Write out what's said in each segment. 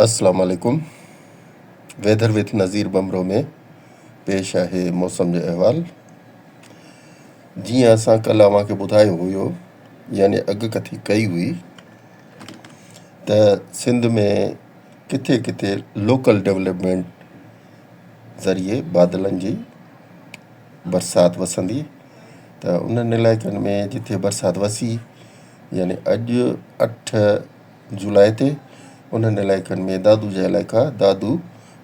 السلام عليڪم ويڌر وٿ نظير ٻمرو ۾ پيش آهي موسم جو احوال جيئن اسان ڪل اوهان کي ٻڌايو هيو يعني اڳ ڪٿي ڪئي هئي ته سنڌ ۾ ڪٿي ڪٿي لوڪل ڊيولپمنٽ ذريعي بادلن جي برسات وسندي ته انهن علائقن ۾ جتي برسات وسي يعني اڄ اٺ جولاء تي انهن علائقن ۾ دادو جا علائقا دادو،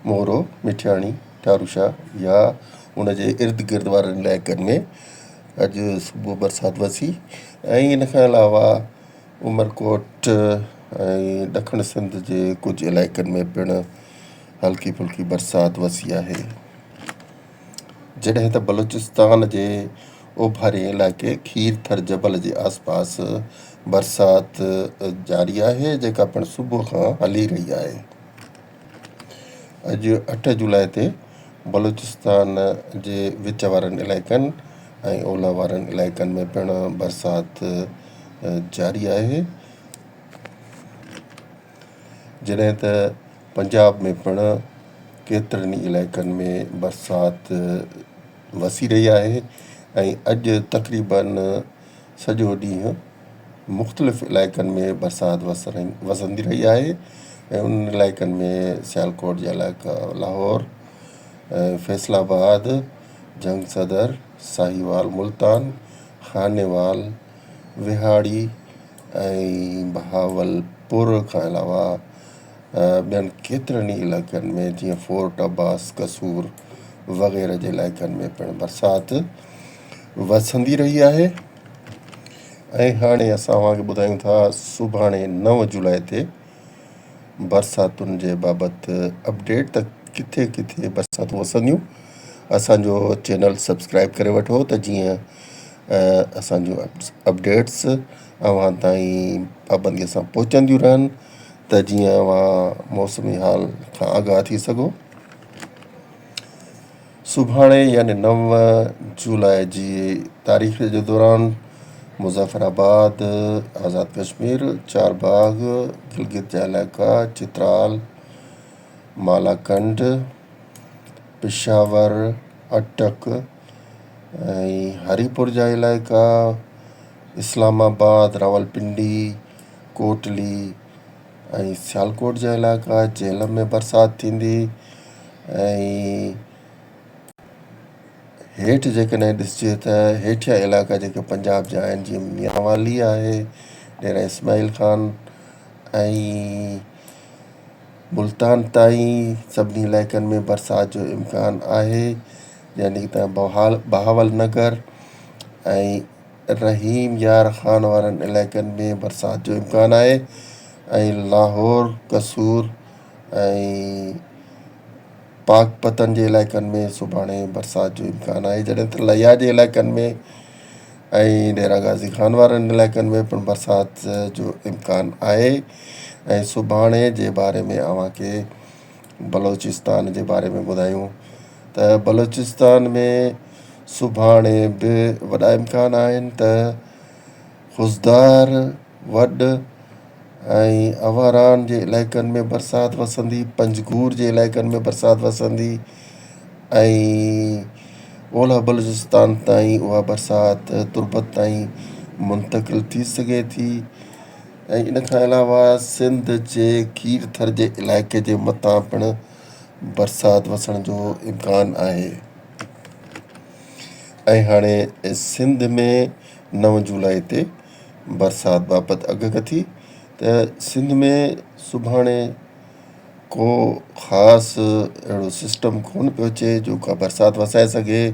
مورو، مٺياڻي، ٽاروشاه يا ان جي ارد گرد وارن علائقن ۾ اڄ صبح برسات وسي ۽ ان کان علاوه عمرڪوٽ ۽ ڏکڻ سنڌ جي ڪجهه علائقن ۾ پڻ هلڪي ڦلڪي برسات وسي آهي. جڏهن ته بلوچستان جي اوڀارين علائقي کير ٿر جبل جي آس پاس برسات جاري آهي جيڪا پڻ صبح کان هلي رهي آهي. اڄ اٺ جولاء تي بلوچستان جي وچ وارن علائقن ۽ اولهه وارن علائقن ۾ پڻ برسات جاري آهي. جڏهن ته پنجاب ۾ پڻ ڪيترن ئي علائقن ۾ برسات وسي رهي آهي ۽ اڄ تقريبن سڄو ڏينهن مختلف علائقن ۾ برسات وسندي رهي آهي ۽ انهن علائقن ۾ سيالڪوٽ جا علائقا لاهور فيصل آباد جنگ صدر ساهيوال ملتان خانيوال وهاڙي ۽ بهاولپور کان علاوه ٻين ڪيترن ئي علائقن ۾ جيئن فورٽ عباس، قصور وغيره جي علائقن ۾ پڻ برسات وسندي رهي آهي ۽ هاڻي اسان اوهان کي ٻڌايون ٿا سڀاڻي نو جولاء تي برساتن جي بابت اپڊيٽ ته ڪٿي ڪٿي برساتون وسنديون اسان جو چينل سبسڪرائب ڪري وٺو ته جيئن اسان جون اپڊيٽس اوهان تائين پابنديء سان پهچنديون رهن ته جيئن اوهان موسمي حال کان آگاهه ٿي سگهو. سڀاڻي يعني نو جولاء جي تاريخ جي دوران مظفر آباد، آزاد ڪشمير، چارباغ، گلگت جا علائقا، چترال، مالاڪنڊ، پشاور، اٽڪ، ۽ هريپور جا علائقا اسلام آباد، راولپنڊي، ڪوٽلي ۽ سيالڪوٽ جا علائقا جهلم ۾ برسات ٿيندي ۽ هيٺ جيڪڏهن ڏسجي ته هيٺيان علائقا جيڪي پنجاب جا آهن جيئن ميانوالي آهي، ڊيره اسماعيل خان ۽ ملتان تائين سڀني علائقن ۾ برسات جو امڪان آهي جنهن جي تحت بهاول نگر ۽ رحيم يار خان وارن علائقن ۾ برسات جو امڪان آهي ۽ لاهور قصور ۽ پاڪپتن جي علائقن ۾ سڀاڻي برسات جو امڪان آهي جڏهن ته ليا جي علائقن ۾ ۽ ڊيرا غازي خان وارن علائقن ۾ پڻ برسات جو امڪان آهي ۽ سڀاڻي جي باري ۾ اوهان کي بلوچستان جي باري ۾ ٻڌايون ته بلوچستان ۾ سڀاڻي به وڏا امڪان آهن ته خضدار، وڏ ۽ اوهران جي علائقن ۾ برسات وسندي، پنجگور جي علائقن ۾ برسات وسندي ۽ اولهه بلوچستان تائين اها برسات تربت تائين منتقل ٿي سگهي ٿي ۽ ان کان علاوه سنڌ جي کير ٿر جي علائقي جي مٿان پڻ برسات وسڻ جو امڪان آهي ۽ هاڻي سنڌ ۾ نو جولائي تي برسات بابت اڳڪٿي ته سنڌ ۾ سڀاڻي ڪو خاص اهڙو سسٽم ڪونه پيو اچي جو ڪا برسات وسائي سگهي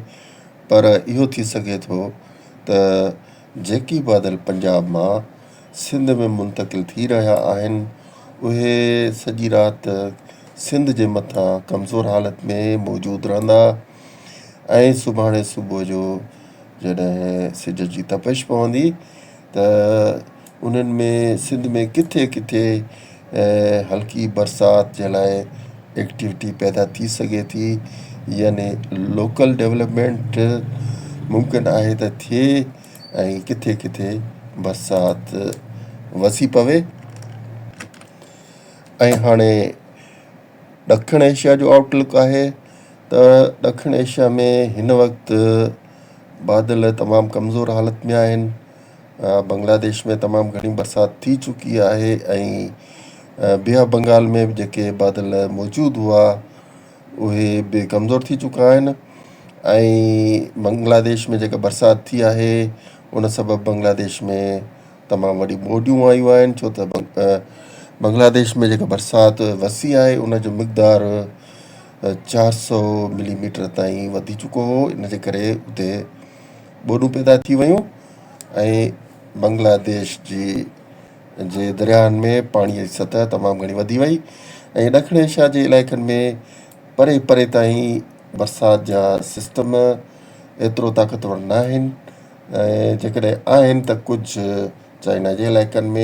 پر اهو ٿي سگهي ٿو ته جيڪي بادل پنجاب مان سنڌ ۾ منتقل ٿي رهيا آهن اهي سڄي رات سنڌ جي مٿان ڪمزور حالت ۾ موجود رهندا ۽ سڀاڻي صبح جو جڏهن سج جي تپش پوندي ته انهن ۾ سنڌ ۾ ڪٿي ڪٿي هلڪي برسات جي لاء ايڪٽيوٽي پيدا ٿي سگهي ٿي يعني لوڪل ڊولپمينٽ ممڪن آهي ته ٿئي ۽ ڪٿي ڪٿي برسات وسي پوي ۽ هاڻي ڏکڻ ايشيا جو آئوٽ لڪ آهي ته ڏکڻ ايشيا ۾ هن وقت بادل تمام ڪمزور حالت ۾ آهن بنگلاديش ۾ تمام گهڻي برسات ٿي چڪي آهي ۽ بي آف بنگال ۾ به جيڪي بادل موجود هئا اهي به ڪمزور ٿي چڪا آهن ۽ بنگلاديش ۾ جيڪا برسات ٿي آهي ان سبب بنگلاديش ۾ تمام وڏيون ٻوڏيون آيون آهن ڇو ته بنگلاديش ۾ جيڪا برسات وسي آهي ان جو مقدار چار سؤ ملي ميٽر تائين وڌي چڪو هو ان جي ڪري اتي ٻوڏون پيدا ٿي ويون ۽ بنگلاديش جي جي درياهن ۾ پاڻي جي سطح تمام گهڻي وڌي وئي ۽ ڏکڻ ايشيا جي علائقن ۾ پري پري تائين برسات جا سسٽم ايترو طاقتور ناهن ۽ جيڪڏهن آهن ته ڪجهه چائنا جي علائقن ۾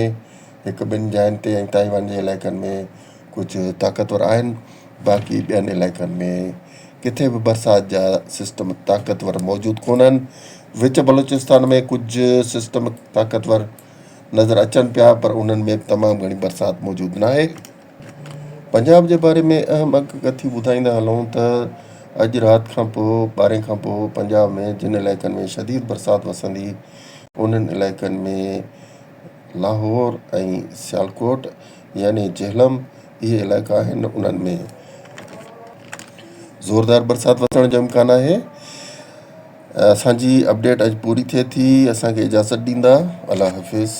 هڪ ٻن جاين تي ۽ تائيوان جي علائقن ۾ ڪجهه طاقتور آهن، باقي ٻين علائقن ۾ ڪٿي به برسات جا سسٽم طاقتور موجود ڪونهن. وچ بلوچستان ۾ ڪجهه سسٽم طاقتور نظر اچن پيا پر انهن ۾ به تمام گهڻي برسات موجود ناهي. پنجاب جي باري ۾ اهم اک ڪٿيون ٻڌائيندا هلون ته اڄ رات کان پوء ٻارهين کان پوء پنجاب ۾ جن علائقن ۾ شديد برسات وسندي انهن علائقن ۾ لاهور ۽ سيالڪوٽ يعني جهلم اهي علائقا آهن انهن ۾ زوردار برسات وسڻ جو امڪان آهي اسان جي اپڊيٽ اڄ پوري ٿئي ٿي اسان کي اجازت ڏيندا الله حافظ.